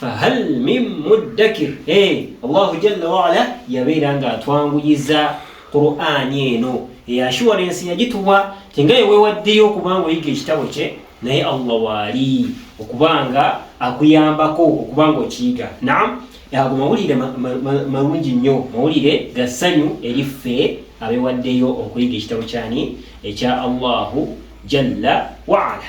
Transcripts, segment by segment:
fahal min muddakir allahu jalla waala yabeera nga atwanguyiza qur'ani eno eyo ashuwarensi yagituwa tinga yewewaddeyo okubanga oyiga ekitabo kye naye allah waali okubanga akuyambako okubanga okiyiga nam ago mawulire malungi nnyo mawulire ga ssanyu eri ffe abewaddeyo okuyiga ekitabo kyani ekya allahu jalla waala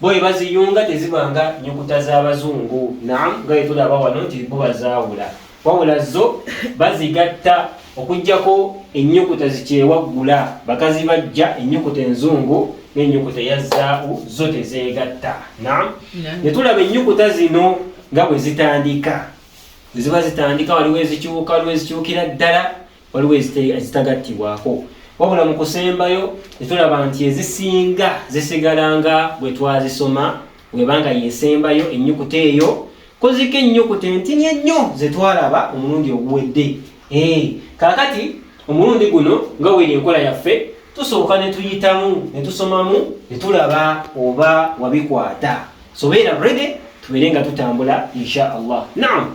Bwe baziyunga teziba nga nyukuta z'abazungu, naam, nga bwe tulaba wano nti bo bazaawula, wabula zo bazigatta okuggyako ennyukuta zikyewaggula, bakazibajja ennyukuta enzungu n'ennyukuta eya zaawu zo tezeegatta. Naam, ne tulaba ennyukuta zino nga bwe zitandika, bwe ziba zitandika waliwo ezikyuka, waliwo ezikyukira ddala. waliwo ezitagattibwako wabula mu kusembayo netulaba nti ezisinga zisigala nga bwe twazisoma webanga yesembayo ennyukuta eyo koziko ennyukuta entini ennyo zetwalaba omulundi oguwedde eh, kakati omulundi guno nga weri enkola yaffe tusooka netuyitamu netusomamu netulaba oba wabikwata sobeera rede tubeere nga tutambula insha allah naam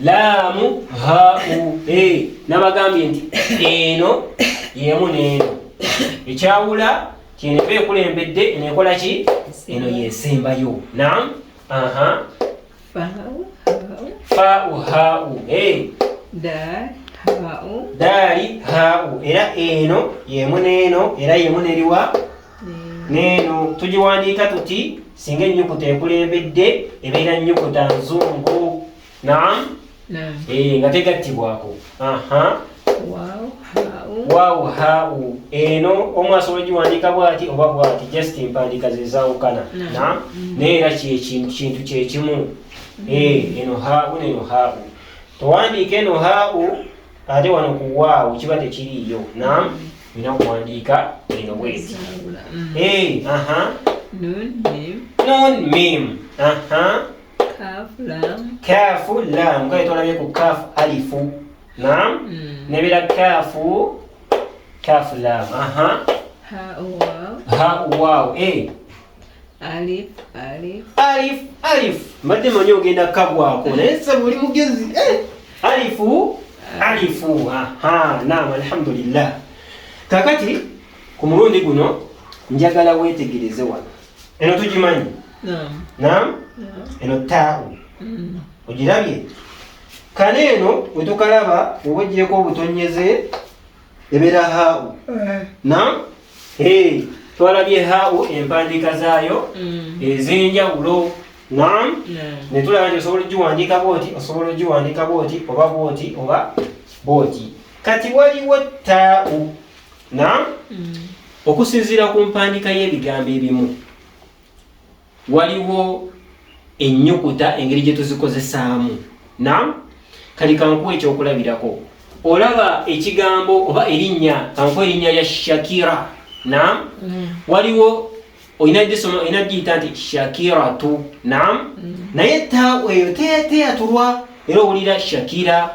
laamu hau e nabagambye nti eno yemu neeno ekyawula kyeneva ekulembedde nekola ki eno yesembayo nam aha fau hau e daali hau era eno yemu neeno era yemu neriwa neeno tugiwandiika tuti singa ennyukuta ekulembedde ebeera nnyukuta nzungu naam eh, nga tegattibwako waawu haawu eno omu asobola giwandiika bwati oba bwati just empandiika zezawukana naam mm. naye era kintu kyekimu mm. eh, eno haawu neno haawu towandiika eno haawu ate wano ku waawo kiba tekiriiyo nam olina okuwandiika eno bwezi non mim kaafu lam kale tolabye ku kaafu alifu nam mm. nebira kaafu kaafu lam aha ha waawo e Alif, alif. Alif, alif. Mbadde manyi ogenda kukagwako naye sasa buli mugezi eh. alifu alifu aha naam alhamdulillah kakati ku mulundi guno njagala weetegereze wano eno tugimanyi naam eno taawu mm. ogirabye kale eno wetukalaba oba ogireko obutonyeze ebeera haawu eh. nam eh, twalabye haawu empandiika zaayo mm. ez'enjawulo nam netulaba nti osobola ogiwandiika bwoti osobola ogiwandiika bwoti oba bwoti oba bwoti kati waliwo taawu nam mm. okusinziira ku mpandiika y'ebigambo ebimu waliwo ennyukuta engeri gye tuzikozesaamu nam kati kankuwa ekyokulabirako olaba ekigambo oba erinnya kankuwa erinnya lya shakira nam mm. waliwo olina gisoma olina giyita nti shakiratu nam mm. naye taweyo teyatulwa era owulira shakira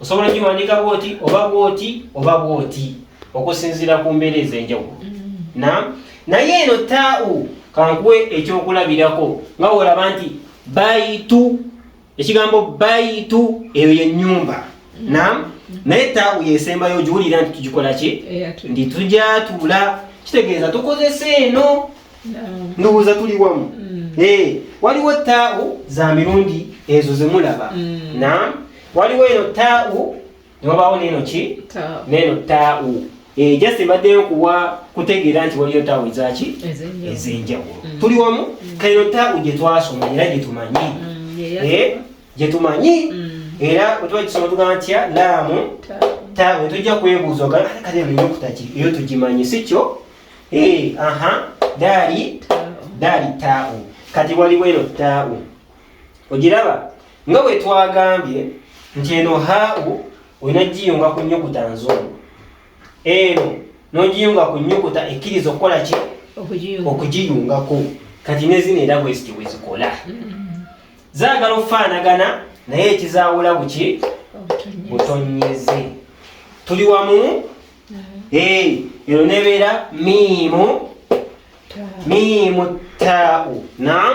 osobola ogiwandiika bwoti oba bwoti oba bwoti okusinziira ku mbeera ez'enjawulo mm-hmm. na naye eno taawu kankuwe ekyokulabirako nga wolaba nti bayitu ekigambo bayitu eyo yenyumba mm-hmm. na naye taawu yesembayo giwulira nti tugikola ki ndi tujatula kitegeeza tukozesa eno ndowooza tuli wamu mm. eh, waliwo taawu za mirundi ezo zemulaba mm. na waliwo eno tau newabawo neno ki neno tau eh, just mbaddeyo kuwa kutegeera nti waliyo tau ezaki ezenjawulo mm. tuli wamu mm. kaino tau gyetwasoma era gyetumanyi mm, eh, gyetumanyi era otuba kisoma tugamba ntya laamu tau tujja kwebuuza ogamba ah, kale nina okutaki eyo tugimanyi si kyo eh, aha daali daali tau kati waliwo eno tau ogiraba nga bwe twagambye nti eno hau olina giyunga ku nyukuta nzungu eno nogiyunga ku nyukuta ekkiriza okukola ki okugiyungako kati nezino era bweziti bwezikola zaagala okufaanagana naye ekizaawula buki butonyeze tuli wamu eno nebeera miimu miimu taau nam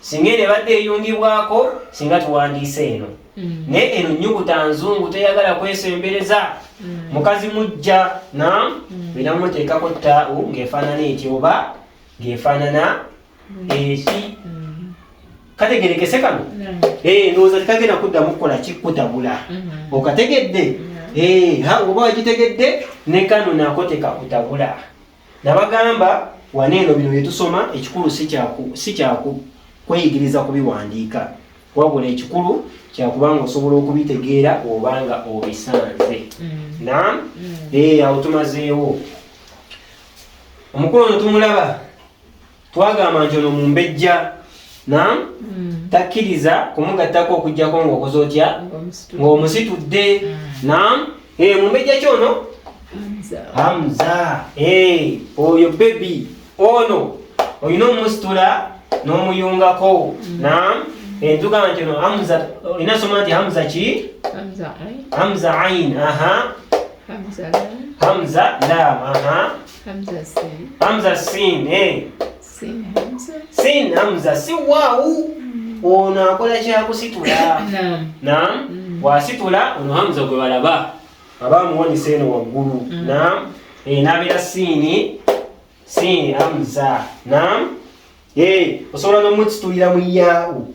singa eno ebadde eyungibwako singa tuwandiisa eno mm. naye eno nyukuta nzungu teyagala kwesembereza mm. mukazi mujja na bina mm. muteekako taawu ng'efaanana eti oba ng'efaanana eki kategerekese kano eh, ndowooza tekagenda kuddamu kukola kikutabula mm-hmm. okategedde eh, oba wagitegedde ne kano nako tekakutabula Nabagamba wano eno bino bye tusoma ekikulu si kyaku kweyigiriza kubiwandiika wabula ekikulu kyakuba nga osobola okubitegeera oba nga obisanze mm. na mm. eh, awo tumazeewo omukulu ono tumulaba twagamba nti ono mumbejja nam hmm. takkiriza kumugattako okujjako ngaokoze otya ngaomusitudde hmm. nam eh, mumbejja kyono hamza eh, oyo bebi ono olina omusitula n'omuyungako hmm. nam eh, tugamba nti ono hamza olina soma nti hamza ki hamza ain aha hamza lam aha Hamza Sin. Hamza Sin, eh. Sin Hamza. Sin Hamza, si wau. Mm. Ono akola kya kusitula. Naam. Naam. Mm. Wasitula ono Hamza gwe balaba. Aba muwoni seno waggulu. Mm. Naam. Eh, nabira Sin. Sin Hamza. Naam. Eh, osobola no mutsitulira mu yau.